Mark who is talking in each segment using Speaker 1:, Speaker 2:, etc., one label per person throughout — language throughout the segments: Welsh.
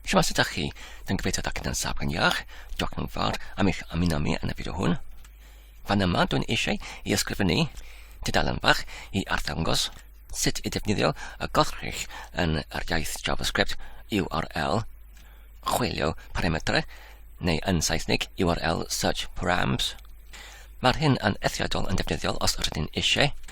Speaker 1: Siwmas ydych chi? Dwi'n gobeithio da gyda'n saf gan iach. Diolch yn fawr am eich ymuno mi yn y fideo hwn. Fan yma, dwi'n eisiau i ysgrifennu tudalen fach i arddangos sut i ddefnyddio y goddrych yn yr iaith JavaScript URL chwilio parametrau neu yn Saesneg URL search params. Mae'r hyn yn eithriadol yn defnyddiol os rydyn eisiau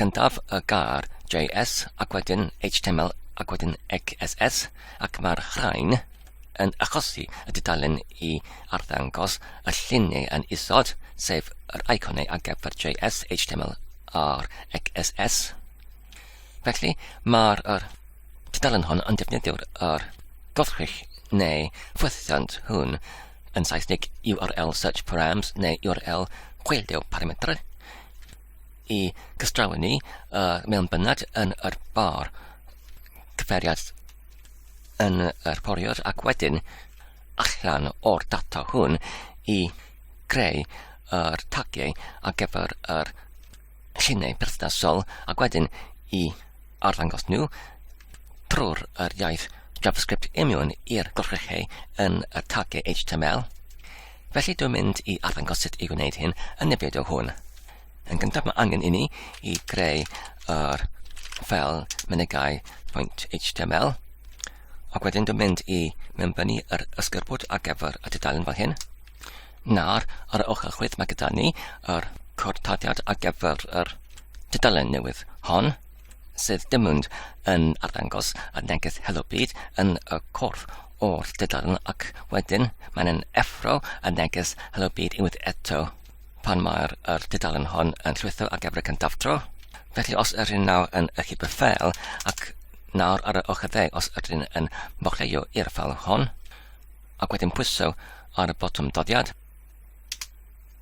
Speaker 1: Gyntaf y gair JS ac wedyn HTML ac wedyn XSS ac mae'r rhain yn achosi y dudalen i arddangos y llun neu yn isod, sef yr iconau ar gyfer JS, HTML a'r XSS. Felly mae'r er, dudalen hon yn defnyddio'r er, gorchrych neu ffwythiant hwn yn Saesneg URL search params neu URL chwildeo parametrau i gystrawen ni uh, mewn bynnag yn yr bar cyferiad yn yr poriwr ac wedyn allan o'r data hwn i greu yr tagiau ar gyfer yr lluniau perthnasol ac wedyn i arddangos nhw trwy'r yr iaith JavaScript imiwn i'r gorchrechu yn y tagiau HTML. Felly dwi'n mynd i arddangos sut i wneud hyn yn y fideo hwn. Yn gyntaf mae angen i ni i greu yr ffel mynegau.html ac wedyn dwi'n mynd i mewnbynnu yr ysgerbwd ar gyfer y tudalen fel hyn. Nawr, ar y ochr chwith mae gyda ni yr cortadiad ar gyfer yr tudalen newydd hon, sydd dim ond yn arddangos y neges Helo Byd yn y corff o'r tudalen ac wedyn mae'n yn effro y neges Helo Byd unwaith eto pan mae'r er tudalen hon yn llwytho ar gyfer y cyntaf tro. Felly os yr un nawr yn y chyber ffel ac nawr ar y ochr dde os yr un yn mochleuo i'r ffel hon, ac wedyn pwyso ar y botwm doddiad,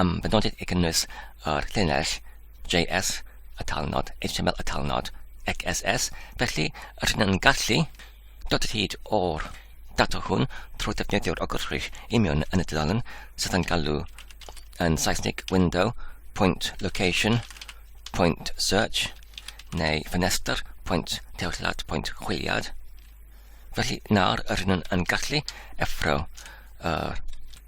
Speaker 1: am benodiad i gynnwys yr llinell JS, y talnod, HTML y talnod, XSS, felly rydyn yn gallu dod o hyd o'r data hwn trwy ddefnyddio'r ogyrchrych imion yn y dudalen sydd yn galw yn Saesneg window, point location, point search, neu ffenestr, point tewyllad, point chwiliad. Felly nawr rydyn yn gallu effro yr uh,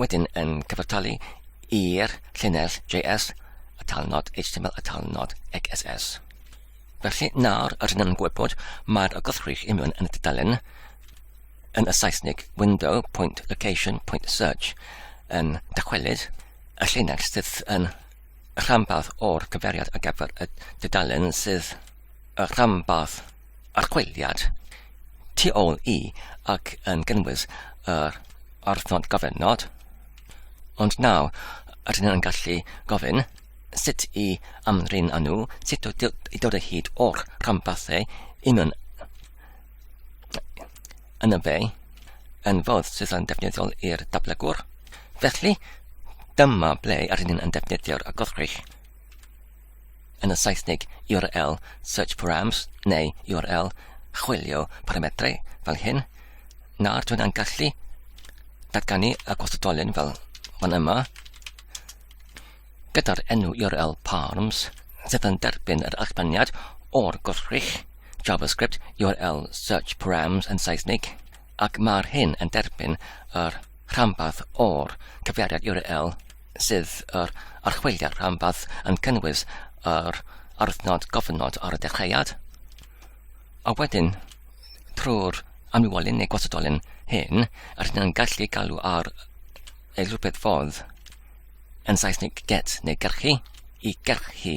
Speaker 1: wedyn yn cyfartalu i'r llinell JS, y talnod HTML a talnod XSS. Felly, nawr yr hyn yn gwybod, mae'r agosrych i mewn yn y dudalen yn y Saesneg window point location point search yn dychwelyd y llinell sydd yn rhanbarth o'r cyfeiriad ar gyfer y dudalen sydd y rhanbarth archwiliad tu ôl i ac yn gynnwys yr orfod gofynnod, ond nawr rydyn yn gallu gofyn sut i amdrin â nhw, sut i dod o hyd o'r rhanbarthau y mewn yn y fe yn fodd sydd yn defnyddiol i'r datblygwr. Felly, dyma ble rydyn yn defnyddio'r agorchrych. yn y Saesneg url search params neu url chwilio paramedrau fel hyn, nawr dwi'n yn gallu datganu y gwastadolyn fel fan yma, gyda'r enw url params sydd yn derbyn yr allbaniad o'r gwrthrych JavaScript url search params yn Saesneg. ac mae'r hyn yn derbyn yr rhanbarth o'r cyfeiriad URL sydd yr archwiliad rhanbarth yn cynnwys yr arwythnod gofynod ar y dechreuad, a wedyn trwy'r amlywolyn neu gwasedolyn hyn, yr hyn yn gallu galw ar ei rhywbeth fodd yn Saesneg get neu gerchu i gerchu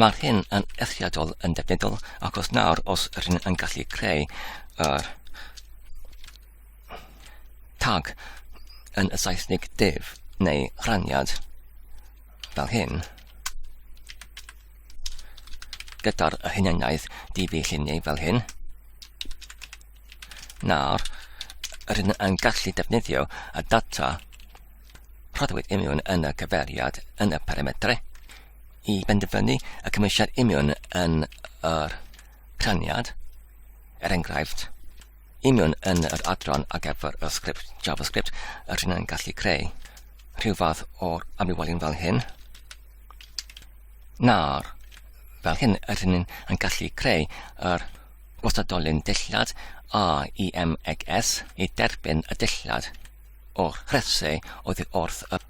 Speaker 1: Mae'r hyn yn eithriadol yn defnyddiol achos nawr os rydyn yn gallu creu yr tag yn y Saesnig div neu rhaniad fel hyn gyda'r hunaniaeth difu lluniau fel hyn. Nawr, rydyn yn gallu defnyddio y data rhoddwyd imiwn yn y cyfeiriad yn y parametrau i benderfynu y cymwysiad imiwn yn yr rhaniad, er enghraifft, imiwn yn yr adran ar gyfer y sgript JavaScript, yr hyn yn gallu creu rhyw fath o'r amlywolyn fel hyn, na'r fel hyn yr hyn yn gallu creu yr gwastadolyn dillad a i MXS i derbyn y dillad o'r rhesau oddi wrth y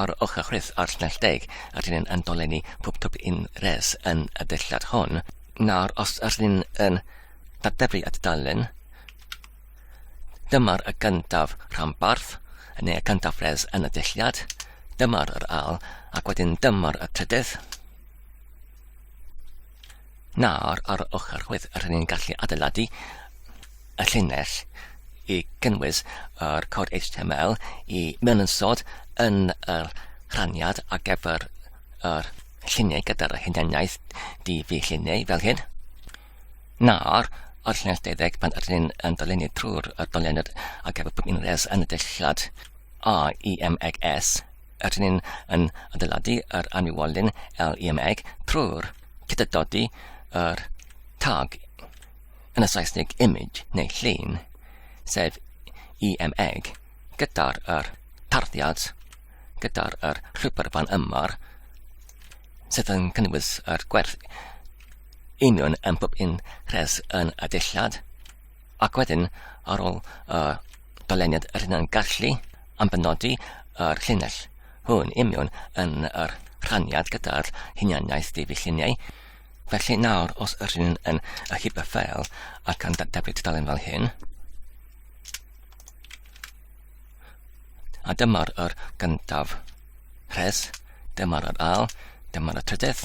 Speaker 1: Ar ochr chwith a'r llinell deg, rydyn ni'n yn dolenni pob twp un res yn y dulliad hwn. Nawr, os rydyn ni'n yn datblygu at dalen, dyma'r y gyntaf rhanbarth, neu y gyntaf res yn y dulliad, dyma'r yr al, ac wedyn dyma'r y trydydd, Na, ar, ar y ochr roedd yr hynny'n gallu adeiladu y llinell i gynnwys yr cod HTML i mewn yn sod yn y rhaniad ar gyfer yr lluniau gyda'r hunaniaeth DV lluniau fel hyn. Nawr, o'r llinell deuddeg pan ydyn ni'n yn dolennu trwy'r doliad ar gyfer pob unrhes yn y dillad AIMEGS, Rydyn ni'n yn adeiladu yr anwywolyn LEMEG trwy'r cydydodi yr tag yn y Saesneg image neu llun, sef EMEG, gyda'r yr tarddiad, gyda'r yr rhywbeth fan ymar, sydd yn cynnwys yr gwerth union yn bob un rhes yn y dillad, Ac wedyn, ar ôl y dyleniad yr hynna'n gallu am benodi yr llinell hwn imiwn yn yr rhaniad gyda'r hunianiaeth ddifu lluniau. Felly nawr, os yr hyn yn y hip y ffeil ac yn dadablu tudalen fel hyn, a dyma'r yr gyntaf rhes, dyma'r yr al, dyma'r y trydydd,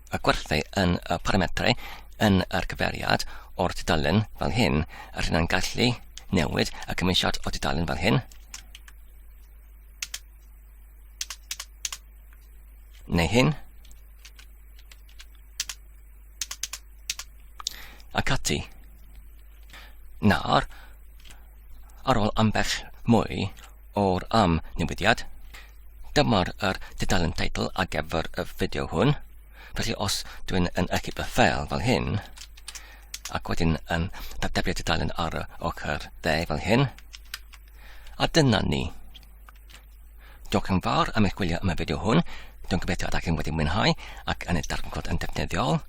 Speaker 1: a gwerthu yn y parametrau yn yr cyfeiriad o'r tudalen fel hyn, a rhywun yn gallu newid y cymwysiad o tudalen fel hyn, neu hyn, ac ati. Nawr, ar ôl ambell mwy o'r am newidiad, dyma'r er dudalen teitl ar gyfer y fideo hwn. Felly os dwi'n yn ychyb y ffel fel hyn, ac wedyn yn datebio dudalen ar y ochr dde fel hyn, a dyna ni. Diolch yn fawr am eich gwylio am y fideo hwn. Dwi'n gobeithio ydych chi'n wedi mwynhau ac yn ei darganfod yn defnyddiol.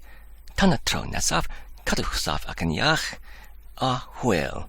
Speaker 1: Tan y tro nesaf, cadwch saff ac yn iach, a hwyl!